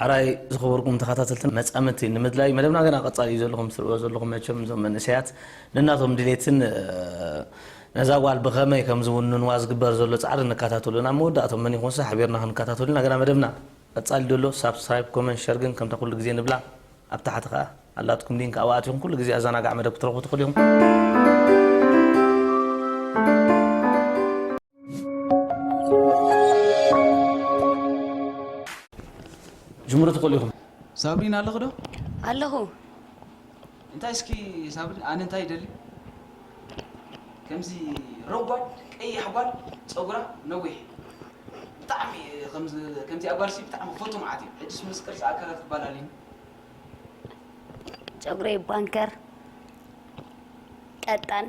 ሐራይ ዝኸበርኩም ተኻታተልትን መጻምድቲ ንምድላይ መደብና ገና ቀጻሊ እዩ ዘሎ ከምትርእዎ ዘለኹም መቸም እዞም መንእሰያት ነናቶም ድሌትን ነዛ ጓል ብኸመይ ከምዝውንንዋ ዝግበር ዘሎ ጻዕሪ ንካታተሎ ናብ መወዳእቶም መን ይኾንሰ ሐቢርና ክንካታተሎ ኢና ገና መደብና ቀጻሊ ደሎ ሳብስክራይብ ኮመንት ሸር ግን ከምታ ኩሉ ግዜ ንብላ ኣብ ታሕቲ ከኣ ኣላትኩም ሊንክ ኣብኣ ኣቲኹም ኩሉ ግዜ ኣዛናጋዕ መደብ ክትረኽቡ ትኽእሉ ኢኹም። ጅምሩ ትኽእሉ ኢኹም ሳብሪን ኣለኽ ዶ ኣለኹ እንታይ እስኪ ሳብሪን ኣነ እንታይ ይደሊ ከምዚ ረጓድ ቀይሕ ጓል ፀጉራ ነዊሕ ብጣዕሚ ከምዚ ኣጓልሲ ብጣዕሚ ክፈቱ መዓት እዩ ሕጅስ ምስ ቅርፂ ኣካላት ክባላልኒ ፀጉረይ ባንከር ቀጣን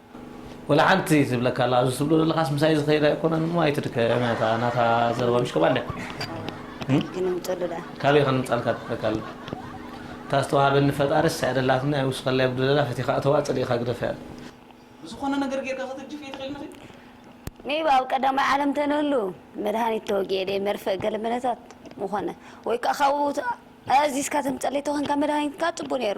ወላ ሓንቲ ዝብለካ ኣላ ኣዚ ትብሎ ዘለካስ ምሳይ ዝከይድ ኣይኮነን እሞ ኣይትድከም እያ እታ ናታ ዘረባ ምሽ ከባለ ካበይ ክንምጸሉ ደኣ ካበይ ክንምጻልካ ትብለካ ኣላ እታ ዝተዋሃበኒ ፈጣሪ እሳ የደላትኒ ኣይውስከላ የጉድለላ ፈቲካ እተዋ ጸሊእካ ግደፈያ ብዝኮነ ነገር ጌርካ ከተጅፍ የትክል ንክል። ሜይ ቢ ኣብ ቀዳማይ ዓለም ተንህሉ መድሃኒት ተወጊኤ ደይ መርፍእ ገለ መለታት ምኾነ ወይ ከኣ ካብኡ ኣዚዝካ ተምጸለይ ተኮንካ መድሃኒትካ ጽቡ ነሩ።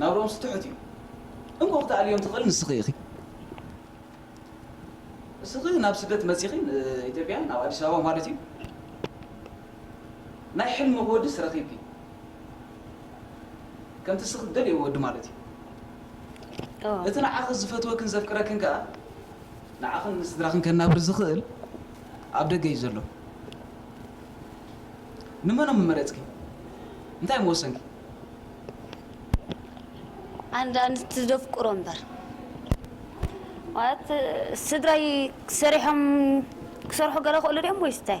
ናብርኦምስ ትሑት እዩ እንኮ ክትኣልዮም ትኽእል ንስኺ ኢኺ እስኺ ናብ ስደት መጺኺ ኢትዮጵያ ናብ ኣዲስ ኣበባ ማለት እዩ ናይ ሕልምኺ ወድስ ረኺብኪ ከምቲ እስኺ ትደልዮ ወዲ ማለት እዩ እቲ ንዓኺ ዝፈትወክን ዘፍቅረክን ከኣ ንዓኽን ንስድራኽን ከናብር ዝኽእል ኣብ ደገ እዩ ዘሎ። ንመኖም ምመረጽኪ? እንታይ ምወሰንኪ? ኣንዳ ኣንስቲ ዘፍቅሮ እምበር ማለት ስድራይ ሰሪሖም ክሰርሑ ገለ ክእሉ ድዮም ወይስ እንታይ?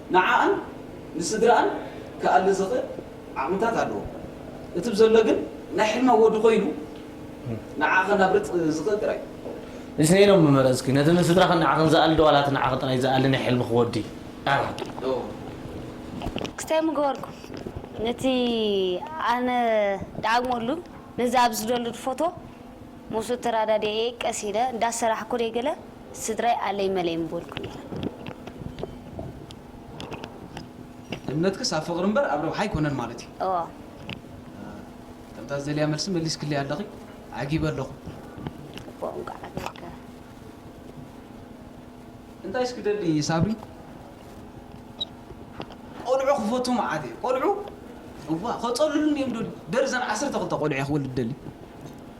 ንዓኣን ንስድርኣን ክኣሊ ዝኽእል ዓቕምታት ኣለዎ። እቲ ብዘሎ ግን ናይ ሕልሚ ኣወዲ ኮይኑ ንዓኣ ከናብርጥ ዝኽእል ጥራይ እዩ። ንሰይ ኢሎም ምመረጽኪ። ነቲ ንስድራኽን ንዓኽን ዝኣሊ ዶ ዋላ እቲ ንዓኺ ጥራይ ዝኣሊ ናይ ሕልምኺ ወዲ? ኣረ! ክስታይ ምገበርኩም ነቲ ኣነ ድኣግመሉ ነዚ ኣብዚ ዝደልድ ፎቶ ምስኡ ተራዳዲኤ ቀስ ኢለ እንዳሰራሕኩ ደይገለ። ስድራይ ኣለይ መለይ ምበልኩ ነይረ። እምነትክስ ኣብ ፍቕሪ እምበር ኣብ ረብሓ ኣይኮነን ማለት እዩ? እወ። ከምታ ዝደልያ መልሲ መሊስክለይ ኣለኺ። ዓጊበ ኣለኹ። እኮ እንቋዕ ዓገብካ። እንታይ እስኪ ደሊ ሳብሪ? ቆልዑ ክፈቱ መዓት እየ። ቆልዑ? እዋ፣ ከጸልሉኒ እዮም ደልዩ። ደርዘን ዓሰርተ ክልተ ቆልዑ እየ ክወልድ ደልዩ።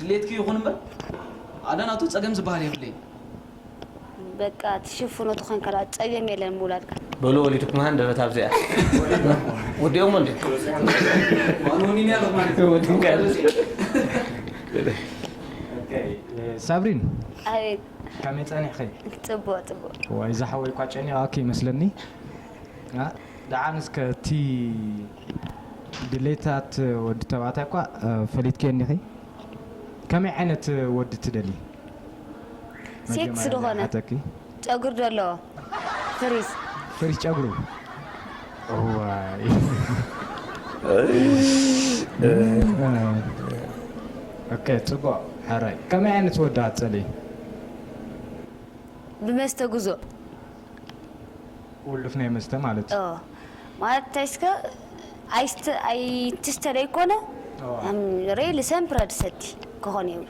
ድሌትኪ ይኹን እምበር ኣነ ናቱ ጸገም ዝበሃል የብለይን። በቃ ትሽፍኖ ተኾንካ ደኣ ጸገም የለን ምውላድካ። በሉ ወሊድኩም ሃንደበት ኣብዚኣ ወዲኦሞ እንድዮም ዋን ወኒኒ ኣለኹ ማለት እዩ ወዲን ካልእ ሳብሪን ኣቤት ከመይ ጸኒሕኺ? ጽቡቕ ጽቡቕ ዋይ እዛ ሓወይ እኳ ጨኒቓኪ ይመስለኒ። ደሓን እስከ እቲ ድሌታት ወዲ ተባዕታይ እኳ ፈሊጥክዮ እንዲኺ ከመይ ዓይነት ወዲ ትደልዪ ሴክስ መጀመርያ ናይ ድኾነ ሓተኪ ጨጉሪ ደለዎ ፍሪዝ። ፍሪዝ ጨጉሩ እዋይ ኦኬ ጽቡቅ ሕራይ ከመይ ዓይነት ወዲ ኣትጸልኢ። ብመስተጉዞ። ቁልፍ ናይ መስተ ማለት እዩ። ማለት እንታይ እስከ ኣይስተ ኣይትስተ ደይኮነ ሬ ልሰን ፕረድ ሰቲ ክኾን የብሉ።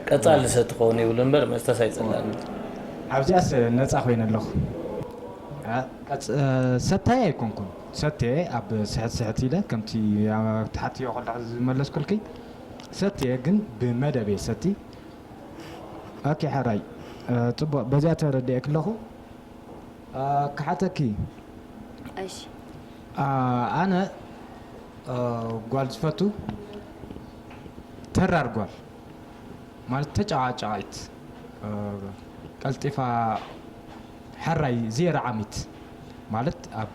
ቀጻሊ ልሰቲ ክኸውን የብሉ እምበር መስተስ ኣይጸላእን እዩ። ኣብዚኣስ ነጻ ኮይነ ኣለኹ። ሰታይ ኣይኮንኩን ሰትየ ኣብ ስሕት ስሕት ኢለ ከምቲ ትሓትዮ ከለኺ ዝመለስኩልኪ ሰትየ ግን ብመደብ እየ ዝሰቲ። ኣኪ ሐራይ ጽቡቅ በዚኣ ተረዲኤኪ ኣለኩ ክሓተኪ እሺ ኣነ ጓል ዝፈቱ ተራር ጓል ማለት ተጫቃጫቂት ቀልጢፋ ሐራይ ዜሮ ዓሚት ማለት ኣብ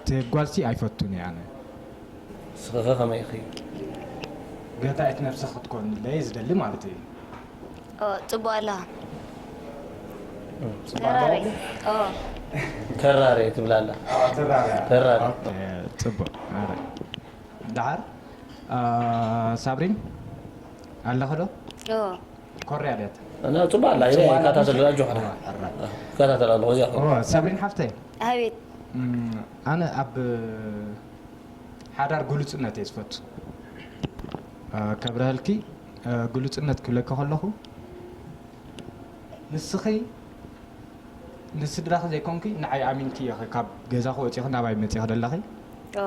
እቲ ጓልሲ ኣይፈቱን እየ ኣነ። ንስኺኸ ከመይ ኢኺ? ገታኢት ነብሰ ክትኮንለይ እየ ዝደሊ ማለተይ እዩ። ኦው ጽቡቅ ኣለኻ ጽቡቅ ተራረይ ኣለኹ። ኦው። ተራረይ ትብል ኣላ። ኣዎ ተራረያ። ተራረይ። ኦኬ ጽቡቅ ኣረ ደሓር ሳብሪን ኣለኺ ዶ? ኦው። ኮርያ ድያ እታ ኣነ ጽቡቅ ኣላ ኢለ ጽቡቅ ኣላ ይከታተል ራጆ ሕራ እዋ፣ ሕራ። ይከታተል ኣለኹ እዚኣ ኮ እዋ፣ ሳብሪን ሓፍተይ ኣቤት እም፣ ኣነ ኣብ ሓዳር ግሉጽነት እየ ዝፈቱ እ፣ ከብረሀልኪ እ፣ ግሉጽነት ክብለኪ ከለኹ ንስኺ ንስድራኺ ዘይኮንኪ ንዓይ ኣሚንኪ ኢኺ ካብ ገዛኺ ወጺኺ ናባይ መጺኺ ደለኺ ኦ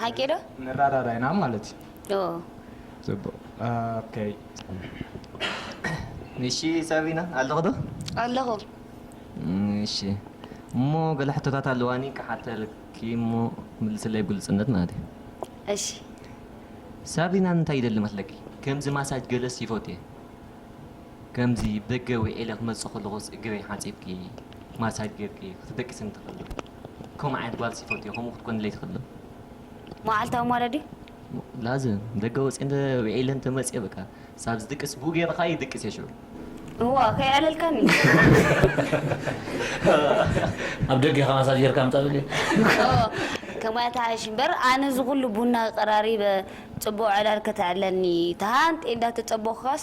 ሓቂ ዶ ንራዳዳ ኢና ማለት እዩ ኦ ጽቡቅ ኦከይ እሺ ሳቢና ኣለኺ ዶ ኣለኹ እሺ እሞ ገለ ሕቶታት ኣለዋኒ ክሓተልኪ እሞ ምልስለይ ብግልጽነት ማለት እዩ እሺ ሳቢና እንታይ ይደሊ መስለኪ ከምዚ ማሳጅ ገለስ ይፈቱ እየ ከምዚ ብደገ ውዒለ ክመጽእ ከለኹስ እግረይ ሓጺብኪ ማሳጅ ጌርኪ ክትደቅስኒ ትኽእሊ ዶ ከምኡ ዓይነት ጓል ስይፈቱ እየ ከምኡ ክትኮንለይ ትኽእል ዶ። መዓልታዊ ማለ ድዩ? ላዝም ደገ ወጽየ እንተ ዊዒለ እንተ መጽየ በቃ ሳብ ዝድቅስ ብኡ ገይረ ከኣ ይድቅስ እየ ሽዑ። እዋ ከይዕለልካኒ። ኣብ ደገ ኢኻ ማሳጅ ጌርካ ኣምጻ በልዮ። እዎ ከማይ ኣተሓይሽ እምበር ኣነ እዚ ኩሉ ቡና ኣቀራሪበ ጽቡቅ ዕላል ከተዕለኒ ተሃንጥየ እንዳተጸበኩካስ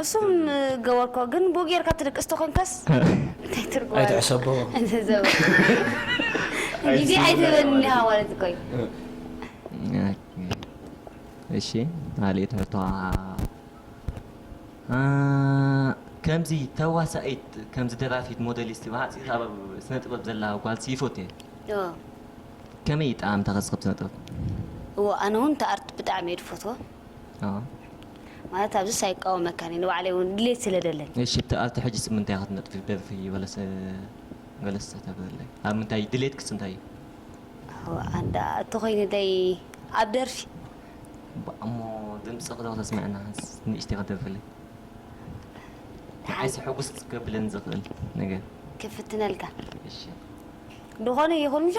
እሱም ገበርኮ ግን ቡኡ ጌርካ ትድቅስ ተኮንካስ እንታይ ትርጉም ኣለዎ ኣይትሕሰቦ እዚ ዘበን ግዜ ኣይትህበኒ ዲኻ ማለት እኮ እዩ እሺ ማሌት መተዋ ከምዚ ተዋሳኢት ከምዚ ደራፊት ሞዴሊስት ብሓፂር ኣብ ስነ ጥበብ ዘላ ጓልሲ ይፎት እየ ኦ ከመይ እዩ ጣዕምታ ከስክብ ስነ ጥበብ እዎ ኣነ እውን ተኣርት ብጣዕሚ እየ ድፈትዎ ማለት ኣብዚስ ኣይቃወመካን እየ ንባዕለይ እውን ድሌት ስለ ደለኒ እሺ እቲ ኣብቲ ሕጂስ ምንታይ ክትነጥፊ ትደልፊ በለሰ ገለስ ተተብለይ ኣብ ምንታይ ድሌትክስ እንታይ እዩ ኣዎ ኣንዳ እተኮይንለይ ኣብ ደርፊ እሞ ድምፅኺ ዶ ክተስምዐና ንእሽተይ ክትደርፍለይ ንዓይሲ ሕጉስ ከብለኒ ዝኽእል ነገር ክፍትነልካ እሺ ድኾነ ይኹን ምሻ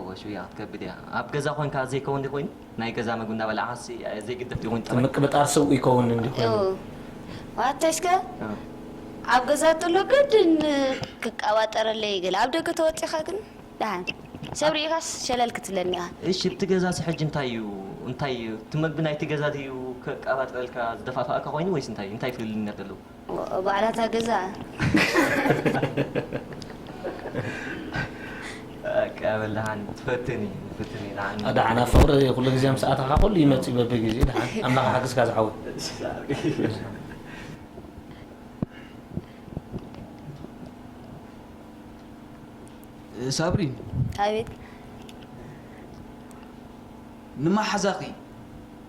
እወ ሽውያ ክትከብድ እያ ኣብ ገዛ ኮንካ ዘይከውን ድዩ ኮይኑ ናይ ገዛ መግቢ እንዳበላዕካስ ዘይግደፍ ድዩ ኮይኑ ጠባይ። ምቅብጣር ስብ ይከውን እንድዩ ኮይኑ። እው ኣታሽ ከ ኣብ ገዛ ተሎ ግድን ክቃባጠረለይ ገለ ኣብ ደገ ተወጺካ ግን ዳሓን ሰብ ሪኢካስ ሸለል ክትብለኒ ኢካ። እሺ እቲ ገዛሲ ሕጂ እንታይ እዩ እንታይ እቲ መግቢ ናይቲ ገዛ ድዩ ከቃባጥረልካ ዝደፋፍኣካ ኮይኑ ወይስ እንታይ እንታይ ፍልልይነት ኣለዎ። ባዕላ እታ ገዛደሓን ኣብ ፍቅሪ ኩሉ ግዜ ምስ ኣተኻ ኩሉ ይመፅእ በቢ ግዜ ደሓን ኣምላኽ ይሓግዝካ ዝሓወይ ሳብሪን ኣቤት ንማሓዛኺ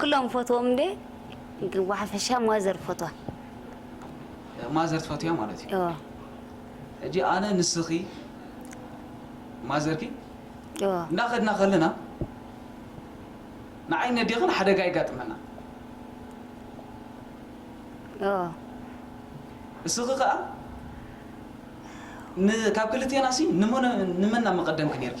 ክሎም ይፈትዎም እንዴ ግን ብሓፈሻ ማዘር ይፈትዋ። ማዘር ትፈትውያ ማለት እዩ እወ ሕጂ ኣነ ንስኺ ማዘርኪ እወ እንዳኸድና ከለና ንዓይን ነዴኽን ሓደጋ የጋጥመና እወ እስኺ ከኣ ን ካብ ክልቴናሲ ንመን ንመን ኣመቀደምኪ ኔርኪ?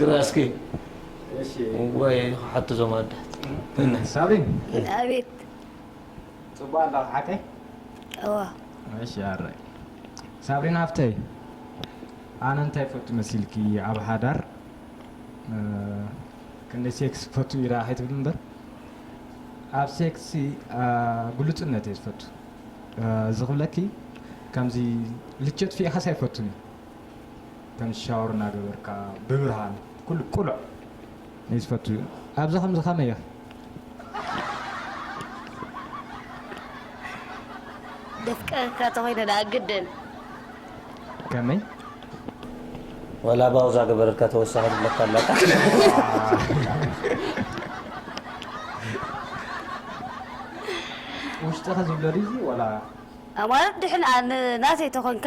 ግራስኪ ወይ ክሓቱ ዞም ኣዳት ሳብሪን ኣቤት ፅቡቅ ኣላ ክሓተይ እዋ እሺ ኣረይ ሳብሪን ሃፍተይ ኣነ እንታይ ፈቱ መሲልኪ ኣብ ሓዳር ክንደይ ሴክስ ፈቱ ኢራ ከይትብል እምበር ኣብ ሴክሲ ግሉፅነት እየ ዝፈቱ እዚ ክብለኪ ከምዚ ልቸት ፊኢኻስ ኣይፈቱን እዩ ከም ሻወር እናገበርካ ብብርሃን ኩሉ ቅሉዕ እዩ ዝፈቱ ኣብዚ ከምዚ ከመይ ኢኺ? ደፍቀረካ ተኾይነ ደኣ ግድን። ከመይ? ወላ ባውዛ ገበረልካ ተወሳኺ ትብለካ ኣላ ውሽጥኺ ዝብሎ ድዩ እዚ ወላ? ማለት ድሕን ናተይ ተኾንካ።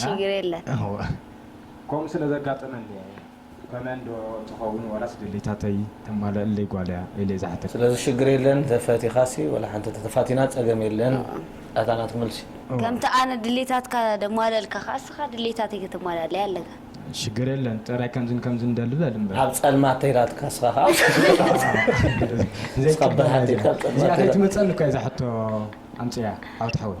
ችግር የለን። እወ ከምኡ ስለ ዘጋጠመኒ እየ ኮመን ዶ ትኸውን ዋላስ ድሌታተይ ተማልእለይ ጓል እያ ኢለ ዝሓተትኪ። ስለዚ ሽግር የለን ተፈቲኻሲ ወላ ሓንቲ ተተፋቲና ጸገም የለን ኣታ ናትኪ መልሲ። ከምቲ ኣነ ድሌታትካ ደማልእልካ ከኣ እስኻ ድሌታተይ ከተማልኣለይ ኣለካ። ሽግር የለን ጥራይ ከምዝን ከምዝን ደሊ በል እምበር። ኣብ ጸልማት ተይላትካ እስኻ ከኣ እስኻ ብርሃን ተይልካ ኣብ ጸልማት ተይላትካ። እዚኣ ከይትመጸኒ እኳ እየ እዛ ሕቶ ኣምጺኣ ዓወት ሓወይ።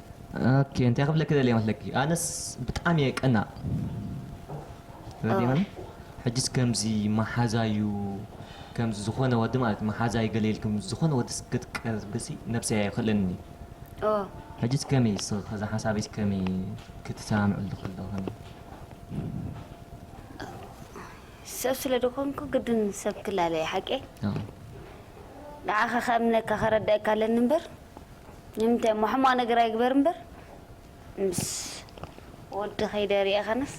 ኦኬ እንታይ ክብለኪ ደልየ መስለኪ ኣነስ ብጣዕሚ እየ ቀናእ ተረዲእክኒ ሕጂስ ከምዚ መሓዛዩ ከምዚ ዝኾነ ወዲ ማለት መሓዛዩ ገለ ኢልክም ዝኾነ ወዲ ስ ክትቀርብሲ ነብሰይ ኣይኽእለንን እዩ ኦ ሕጂስ ከመይ ስ ከዛ ሓሳበይስ ከመይ ክትሰማምዕሉ ከለኽን ሰብ ስለ ዝኾንኩ ግድን ሰብ ክላለየ ሓቄ ንዓኻ ከእምነካ ከረድኣካ ኣለኒ እምበር ንምንታይ እሞ ሕማቅ ነገር ኣይግበር እምበር ምስ ወዲ ከይደ ሪኤ ከነስ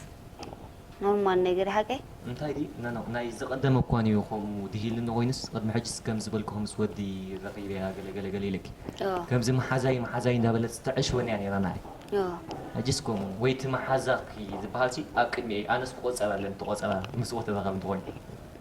ኖርማል ነገር ሓቀይ። እንታይ ድዩ ኖኖ ናይ ዝቀደመ እኳ ንዩ ከምኡ ድሂልኒ ኮይኑስ ቅድሚ ሕጅስ ከም ዝበልክኺ ምስ ወዲ ረኺበያ ገለ ገለ ገለ ኢለኪ ከምዚ መሓዛይ መሓዛይ እንዳ በለት ተዐሽወኒ እያ ኔራ ናዓይ ሕጅስ ከምኡ ወይ እቲ መሓዛኺ ዝበሃልሲ ኣብ ቅድሚኤይ ኣነስ ክቆጸር ኣለኒ እቲ ቆጸራ ምስ ወዲ ረኸብኒ ኮይኑ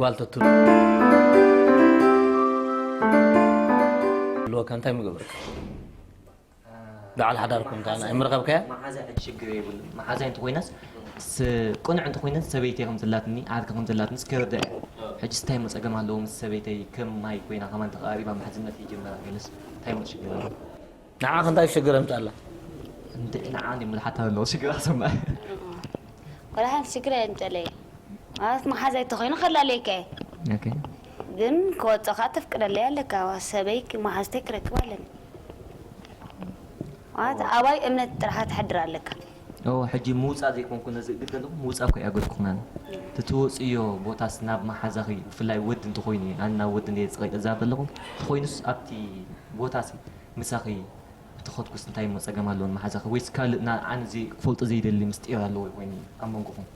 ጓል ተትህሉ ኣለወካ እንታይ ምገበርካ በዓል ሓዳር ኮንካ ኣይምረኸብካያ መሓዛ ሽግር የብሉ መሓዛ እንተኮይናስ ቅኑዕ እንተኮይናስ ሰበይተይ ከም ዘላትኒ ዓርኪ ከም ዘላትኒ ስከረዳ እያ ሕጂ ስታይ ሞ ፀገም ኣለዎ ምስ ሰበይተይ ከም ማይ ኮይና ከማን ተቀራሪባ መሓዝነት ይጀመራ ገለስ እንታይ ሞ ሽግር ኣለዎ ንዓኽ እንታይ ሽግር ኣምጻላ? እንድዒ ንዓ ድዩ ምልሓት ተለዎ ሽግር ኣሰማዒ። ዋላ ሓንቲ ሽግር ኣየምጸለይ ማለት መሓዛይ ተኾይኑ ከላልየካ እየ ኦኬ። ግን ክወጾ ከኣ ተፍቅደለይ ኣለካ ሰበይ መሓዝተይ ክረክብ ኣለኒ ማለት ኣባይ እምነት ጥራሓ ተሕድር ኣለካ። እወ ሕጂ ምውጻእ ዘይኮንኩ ነዚ እግድ ዘለኹ ምውጻእ እኮ ኣይኣገድኩክናን እቲ ትወጽእዮ ቦታስ ናብ መሓዛኺ ብፍላይ ወዲ እንተኾይኑ እዩ ኣነ ናብ ወዲ እንድየ ጸቒጠ ዝዛረብ ዘለኹ እንተኾይኑስ ኣብቲ ቦታሲ ምሳኺ እንተኸድኩስ እንታይ እሞ ጸገም ኣለዎ ንመሓዛኺ ወይስ ካልእ ንዓን ክፈልጦ ዘይደሊ ምስጢር ኣለዎ ኮይኑ ኣብ መንጎኹም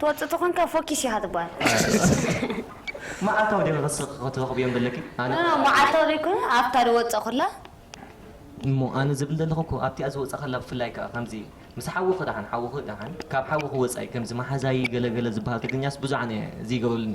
ትወጽእ ተኾንካ ፎኪስ ኢኻ ትብሃል። መዓልታዊ ድዩ ንኽስርቂ ክትረኽብዮም ዘለኪ? ኣነ ኖኖ ክኣ መዓልታዊ ዘይኮነ ኣብታ ዝወጽእ ኩላ። እሞ ኣነ ዝብል ዘለኹ እኮ ኣብቲኣ ዝወጽእ ከላ ብፍላይ ክኣ ከምዚ ምስ ሓውኺ ድሓን ሓውኺ ድሓን ካብ ሓውኺ ወጻኢ ከምዚ መሓዛይ ገለ ገለ ዝብሃል ትግርኛስ ብዙሕ ኣነ ዝይገብረሉኒ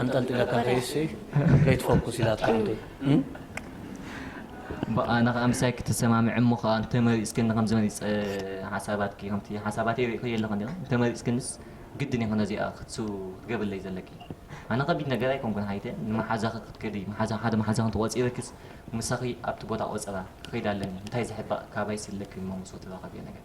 ኣንጠልጢለካ ከይሲ ከይትፎኩስ ኢላትካ ዓደይ እም። እምበእ ኣነ ከኣ ምሳይ ክትሰማምዒ እሞ ከኣ እንተመሪጽክኒ ከምዚ መሪጸ ሓሳባትኪ ከምቲ ሓሳባተይ ርኢኽዮ ኣለኹ እንዲኺ እንተመሪጽክንስ ግድን ይኹን ነዚኣ ክትሱ ክትገብርለይ ዘለኪ ኣነ ከቢድ ነገር ኣይኮንኩን ሓይተ ንመሓዛኺ ክትከዲ መሓዛ ሓደ መሓዛኺ እንተቖጺርክስ ምሳኺ ኣብቲ ቦታ ቆጸራ ክኸይድ ኣለኒ እንታይ ዝሕባእ ካባይስ ኣለኪ እሞ ምስ ወትራኻብዮ ነገር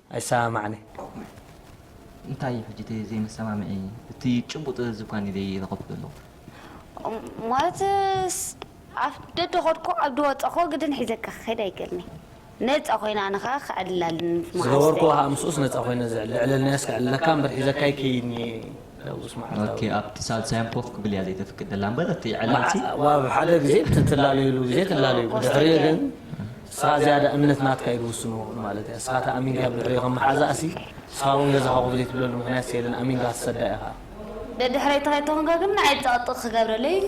ኣይሰማማዕን እየ። እንታይ እዩ ሕጂ እቲ ዘይመሰማምዒ? እቲ ጭቡጥ እዚ እኳ እኔ ዘይረኸብኩ ዘለኹ። ማለትስ ኣፍ ደደ ኸድኩ ኣብዲ ወጸኹ ግድን ሒዘካ ክኸይድ ኣይክእልን'የ። ነጻ ኾይነ ኣነ ኸኣ ክዕልል ኣለኒ ምስ መሓዙተይ። ዝገበርኩዎ ኸኣ ምስኡስ ነጻ ኾይነ ዝዕልል ልዕልናዮስ ክዕልለካ እምበር ሒዘካ ኣይከይድን'የ። ሕጉስ መዓልታዊ። ኦኬ ኣብቲ ሳልሳዮም ኮፍ ክብል እያ ዘይተፍቅደላ እምበር እቲ ዕላልሲ መዓ- ዋብ ሓደ ግዜ እቲ ትላለዩሉ ግዜ ትላለዩ ብድሕሪኡ ግን ንስኻ ዝያዳ እምነት ናትካ እዩ ዝውስኖ ማለት እያ ንስኻ እታ ኣሚንካ ኣብ ድሕሪኡ ከም መሓዛእሲ ንስኻ እውን ገዛኻ ኮፍ ዘይትብለሉ ምኽንያትሲ የለን ኣሚንካ ክትሰዳ ኢኻ ደድሕረይ ተኸይድቶ ኮንካ ግን ንዓይ ብጣቕጥቕ ክገብረለይ እዩ።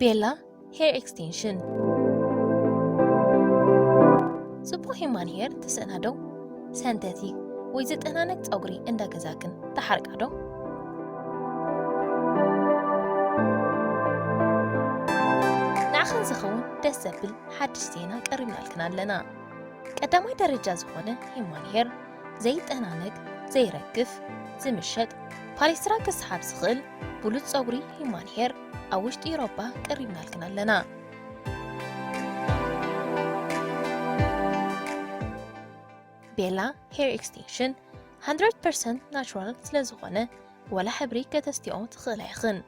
ቤላ ሄር ኤክስቴንሽን ጽቡቕ ሂማን ሄር ትስእና ዶ? ሰንተቲ ወይ ዝጠናነቅ ጸጉሪ እንዳ ገዛክን ተሓርቃ ዶ? ንዓኽን ዝኸውን ደስ ዘብል ሓድሽ ዜና ቀሪብናልክን ኣለና። ቀዳማይ ደረጃ ዝኾነ ሂማን ሄር ዘይጠናነግ፣ ዘይረግፍ፣ ዝምሸጥ፣ ፓሌስትራ ክስሓብ ዝኽእል ብሉጽ ጸጉሪ ሂዩማን ሄር ኣብ ውሽጢ ኢሮፓ ቀሪብናልክን ኣለና። ቤላ ሄር ኤክስቴንሽን 100% ናቹራል ስለዝኾነ ወላ ሕብሪ ከተስትዮ ትኽእላ ኢኽን።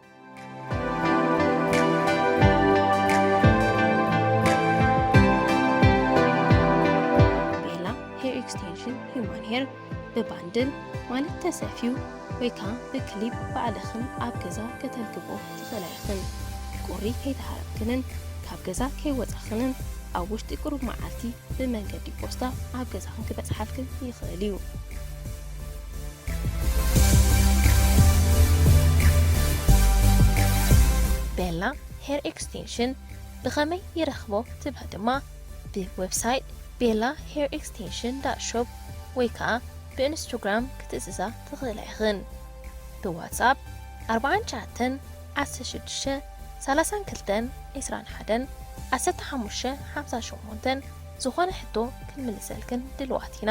ብባንድል ማለት ተሰፍዩ ወይ ከዓ ብክሊፕ ባዕልኽን ኣብ ገዛ ከተልግቦ ትኽእላ ኢኽን። ቁሪ ከይተሃረምክንን ካብ ገዛ ከይወፃኽንን ኣብ ውሽጢ ቁሩብ መዓልቲ ብመንገዲ ፖስታ ኣብ ገዛኽን ክበፅሓልክን ይኽእል እዩ። ቤላ ሄር ኤክስቴንሽን ብኸመይ ይረኽቦ ትብሉ ድማ ብ ዌብሳይት ቤላ ሄር ኤክስቴንሽን ዳት ሾፕ ወይ ከኣ ብ እንስቱግራም ክትእዝዛ ትኽእላ ኢኽን ብ ዋትስኣፕ ኣርብዓን ትሽዓተን ዓሰርተ ሽዱሽተ ሰላሳን ክልተን ዕስራን ሓደን ዓሰርተ ሓሙሽተ ሓምሳን ሸሞንተን ዝኾነ ሕቶ ክንምልሰልክን ድልዋት ኢና።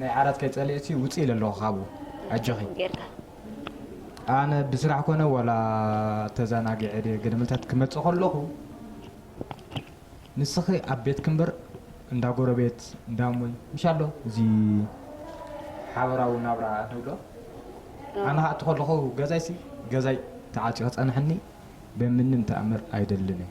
ናይ ዓራት ከይጸሊእኪ ውጺ ኢለ ኣለኩ ካብኡ ኣጆኺ። ኣነ ብስራሕ ኮነ ዋላ ተዛናጊዐ ድየ ገደመልታት ክመጽእ ከለኩ ንስኪ ኣብ ቤትኪ እምበር እንዳ ጎረቤት እንዳ እሙይ ምሽ ኣሎ እዚ ሓበራዊ ናብራ ንብሎ ኣነ ከኣ እቲ ከለኩ ገዛይሲ ገዛይ ተዓጽዩ ክጸንሐኒ ብምንም ተኣምር ኣይደልን እየ።